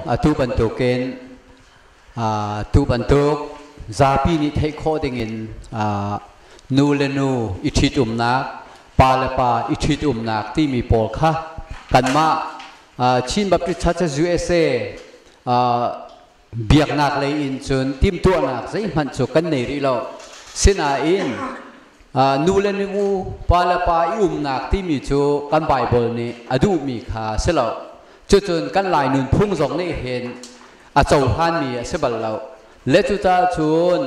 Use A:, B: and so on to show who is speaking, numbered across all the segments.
A: Atu bantukin atu bantuk zapi nih theih khawh dingin nu le nu i ṭhitumnak, pa le pa i ṭhitumnak timi pawl kha kanmah Chin Baptist Churches USA biaknak lei in cun timhtuahnak zeihmanh cu kan nei rih lo. Sinain nu le nu, pa le pa i umnak timi cu kan Baibal nih a duhmi kha a si lo. Cucun kan Lai nunphung zong nih hin a cohlanmi a si bal lo. Le cucaah cun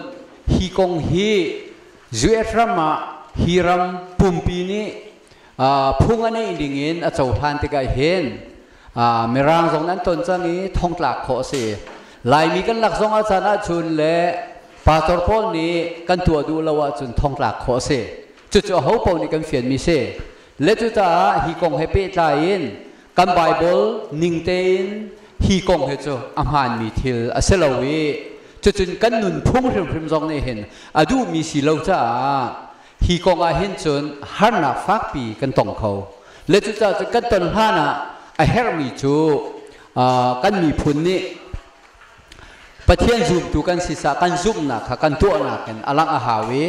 A: hi kong hi US ram ah hi ram pumpi nih phung a neih ding in a cohlan tikah hin Mirang zong an ton cang i thongtlak khawh a si. Laimi kan lak zong ah caan ahcun le pastor pawl nih kan tuah duh lo ahcun thongtlak khawh a si. Cucu aho paoh nih kan fianmi si. Le cucaah hi kong he pehtlai in Kan Baibal ning tein hi kong hi cu a hmaanmi thil a si lo i cucun kan nunphung hrimhrim zong nih hin a duhmi si lo caah hi kong ah hin cun harnak fakpi kan tong kho le cucaah cun kan ton hlan ah a herhmi cu kan miphun nih Pathian zumtu kan sisah kan zumhnak kha kan tuahnak in a langh a hau i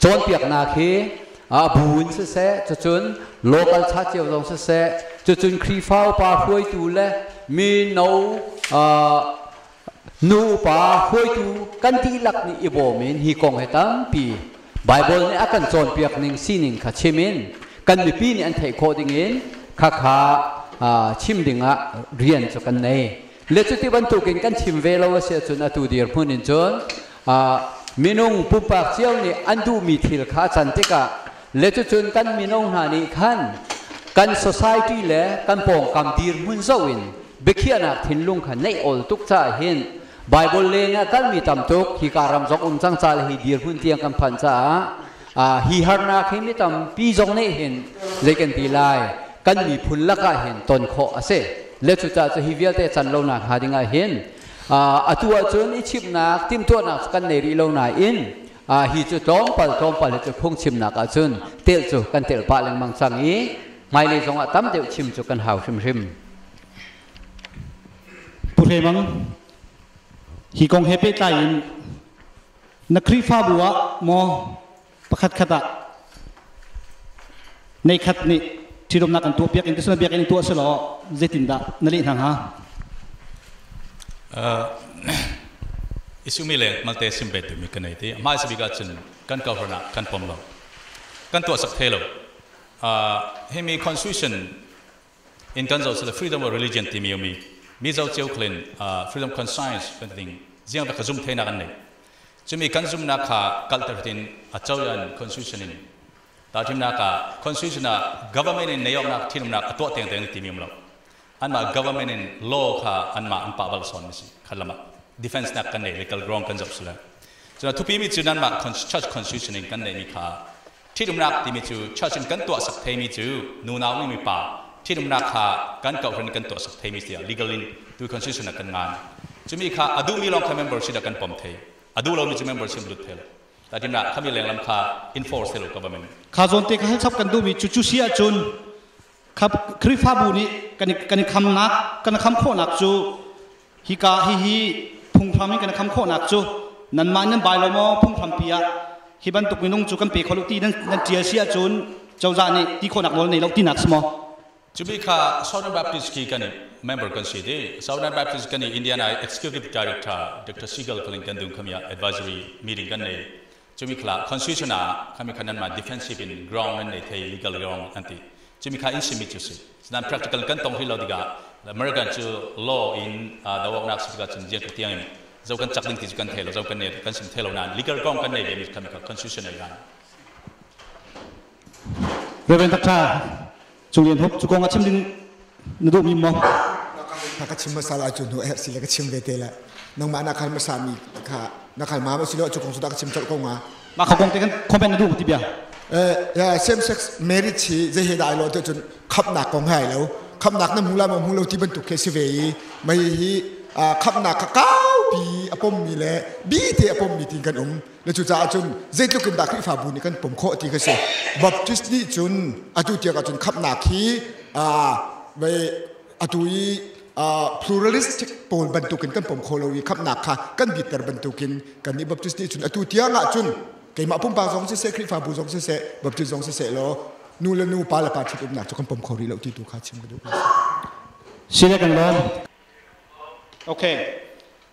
A: cawnpiaknak hi bu in siseh cucun local cha cio zong siseh cucun Khrihfa upa hruaitu le mino nu upa hruaitu kan dihlak nih i bawm in hi kong hi tampi Baibal nih a kan cawnpiak ning sining kha chim in kan mipi nih an theih khawh ding in khakha chim dingah rian cu kan nei. Le cuti bantukin kan chim ve lo a si ahcun atu dirhmun in cun minung pumpak cio nih an duhmi thil kha a can tikah le cucun kan mino hna nih khan kan society le kan pawngkam dirhmun zoh in biakhiahnak thinlung kha neih awl tuk caah hin Bible leng ah kalmi tam tuk hika ram zong um cang ca le hi dirhmun tiang kan phan caah Uh, hi harnak hi mi tampi zong nih hin zei kan ti lai kan miphun lakah hin ton khawh a si le cucaah cu hi vialte can lonak hnga ding ah hin uh, atu ahcun i chimnak timhtuahnak kan nei rih lo nain uh, hi cu tlawmpal tlawmpal hi cu phungchimnak ahcun tel cu kan tel pah lengmang cang i hmailei zong ah tam deuh chim cu kan hau hrimhrim pu hre mang hi kong he pehtlai in Na Khrihfabu ah maw pakhatkhat ah neikhat nih ṭhitumnak kan tuah piak in tisun biakinn in tuah si law zeitindah na leh hna hnga? isumi leng malte simbe tumi kan ei ti mah si bikah cun kan governor kan pom lo kan tuah sak thei lo uh, himi constitution in kan zoh sal freedom of religion timi a mi mizo cio khal in freedom conscience kan ding ziang bik zum theinak an nei cumi kan zumnak kha kalter tin a choyan constitution in talthimnak ah constitution ah government in neyonak thinumnak a tuah teng teng timi lo anmah government in law kha anmah an pa bal son mi si khalama defense nak kan nei legal ground kan zoh sula cuna thupi mi cu nanmah church constitution in kan nei mi kha Ṭhitumnak timi cu church in kan tuahsak theimi cu nunau nih mipa ṭhitumnak kha kan kohhran in kan tuahsak theimi tiah legal in tu constitution ah kan ngan. Cumi kha a duhmi lawng kha membership ah kan pom thei. A duh lomi cu membership lut thei lo. Taitinnak khami lenglam kha enforce thei lo government. Kha zawn te kha hal chap kan duhmi cu cu si ahcun Khrihfabu nih kan i khamnak kan i kham khawhnak cu hika hihi phunghram in kan i kham khawhnak cu nanmah in nan bai lo maw phunghrampi ah hi bantuk minung cu kan pe kho lo ti nan ṭial si ahcun cozah nih ti khawhnak nawl nei lo tinak si maw? Cubi kha Southern Baptist khi kan i member kan si dih. Southern Baptist kan i Indiana i Executive Director Dr. Seagal Kling kan dun khami ah advisory meeting kan nei. Cumi kha constitution ah kami kha nanmah defensive in ground nan nei thei legal ground an ti cumi kha in simi cu si sedan practical kan tong hlei lo tikah American cu law in dawaknak si tikah cun jian tiang in zo kan chak ding ti cu kan thei lo zo kan ne kan sim thei lo nan legal ground kan nei ve mi kami kha constitution nei lan Reverend Dr. Cung Lian Hop, cu kong a chim ding na duhmi maw? Kha ka chim masal ah cu hnu eh sile ka chim ve te la nangmah na khal masa mi kha na khal ma ma silo cu kong su da ka chim chol ko nga ma kha kong te kan comment na duh ti bia eh same sex marriage hi je he dai lo te chun khap nak kong hai lo khap nak na mu la ma mu lo ti ban tuk ke si ve yi mai hi khap nak ka kau pi apom mi le bi te apom mi tin kan um na cucaah cun zeitluk in dah Khrihfabu nih kan pom khawh ti ka si Baptist nih cun atu tiang ahcun khamhnak hi atu i pluralistic pawl bantukin kan pom kho lo i khamhnak kha kan bitter bantukin kan nih Baptist nih cun atu tiang ahcun keimah pumpak zong siseh Khrihfabu zong siseh Baptist zong siseh law nu le nu pa le pa ṭhitumnak cu kan pom kho rih lo ti tu kha chim ka duh Okay.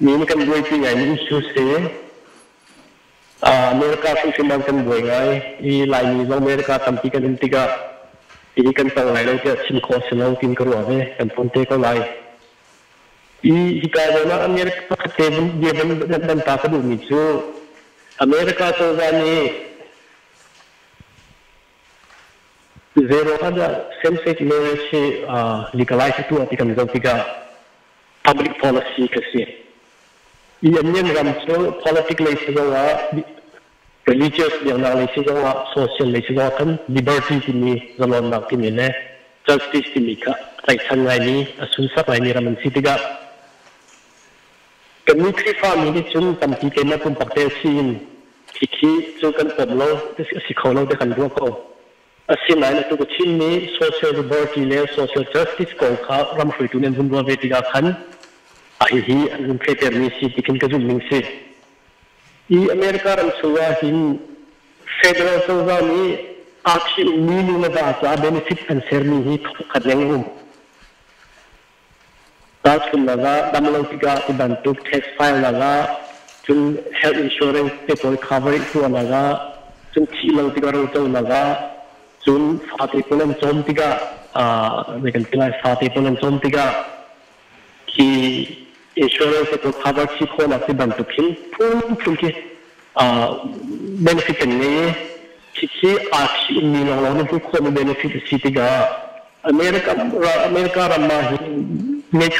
A: Min kan buai pi ngai mi issue si. America tu khi man kan buai ngai i Laimi zong America tampi kan in tikah ti kan tong lai lo tiah chim khawh si lo tin ka ruah ve kan phone te ko lai. Hika zawn ah America pakhat te bia van ta ka duhmi cu America cozah nih zero hundred same-sex marriage hi legalize a tuah ti kan zoh tikah public policy ka si. I Anyan ram cu politic lei zong ah religious biaknak lei si zongah social lei si zongah khan liberty timi zalawnnak timi le justice timi kha tlaihchan ngaimi a sunsak ngaimi ram an si tikah kannih khrihfami nih cun tampi keimah pumpak te si in khikhi cu kan pom lo a si kho lo te kan ruah ko asinain atu ka Chinmi social liberty le social justice kong kha ram hruitu nih an hun ruah ve tikah khan a hihi an hun thetermi si tikin ka zumh ning si Hi America ram chung ah hin federal cozah nih athi ummi nunava caah benefit an sermi hi thongkhat leng a um. Tahchunhnak ah, damlo tikah tibantuk tax filenak ah, cun health insurance te pawl coverage tuahnak ah, cun thih lo tikah roconak ah, cun fate pawl an cawm tikah, uh, kan ti lai, fate pawl an cawm tikah, hi insurance he cu cover si khawhnak ti bantuk hin phunphun khi benefit kan ngei i khi aa thihmi lawnglawng nih hmuh khawhmi benefit a si tikah America America ram ah hin ngei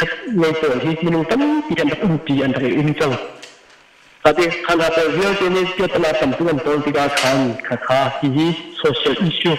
A: ngei pawl hi minung tampi an rak umpi an rak i um cang ati khan ha pawl vialte nih piatana tamtuk an tawl tikah khan kha kha hihi social issue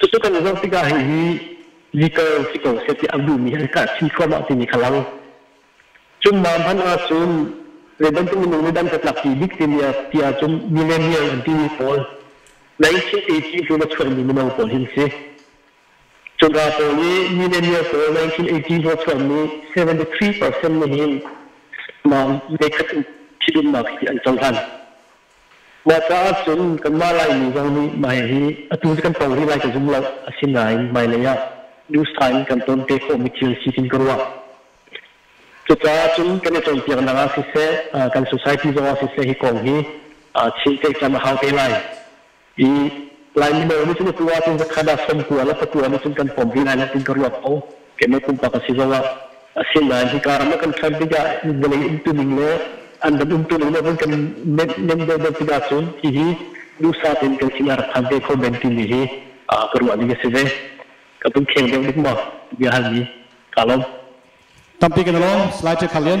A: Cucu kan zoh tikah hihi legal si ko seh ti a duhmi an kah chin thluahmah timi kha lang. Cun mah hmanh ah cun zeibantuk minung nih dan tatlakpi bik timi ti ahcun millennial an timi pawl 1980 tluk a chuahmi mino pawl hin si. Cunga pawl nih millennial pawl 1980 a chuahmi 73% nih hin mah meikhat in ṭhitumnak hi an cohlan. Mah caah cun kanmah Laimi zong nih mai hi atu kan to rih lai ka zum lo. Asinain hmailei ah new style in kan ton te khawhmi thil si kan ka ruah. Cucaah cun kan i cawnpiaknak ah siseh, kan society zong ah siseh hi kong hi chim ceih cam a hau te lai. I Laimi lawng nih cun atu ahcun zakhat ah sawmkua le pakua nih cun kan pawm rih lai natin ka ruah ko. Keimah pumpak a si zong ah. Asinain hika ram ah kan ṭhan tikah vawlei umtuning le an kan umtuning le vun kan nem deuhdeuh tikah cun hihi duhsah tein kan sin a rak phan ve kho men timi hi ka ruah ning a si ve. Ka pun kheng deuh dik maw biahal mi ka lawm. Tampi kan lawm. Slide check hal lian.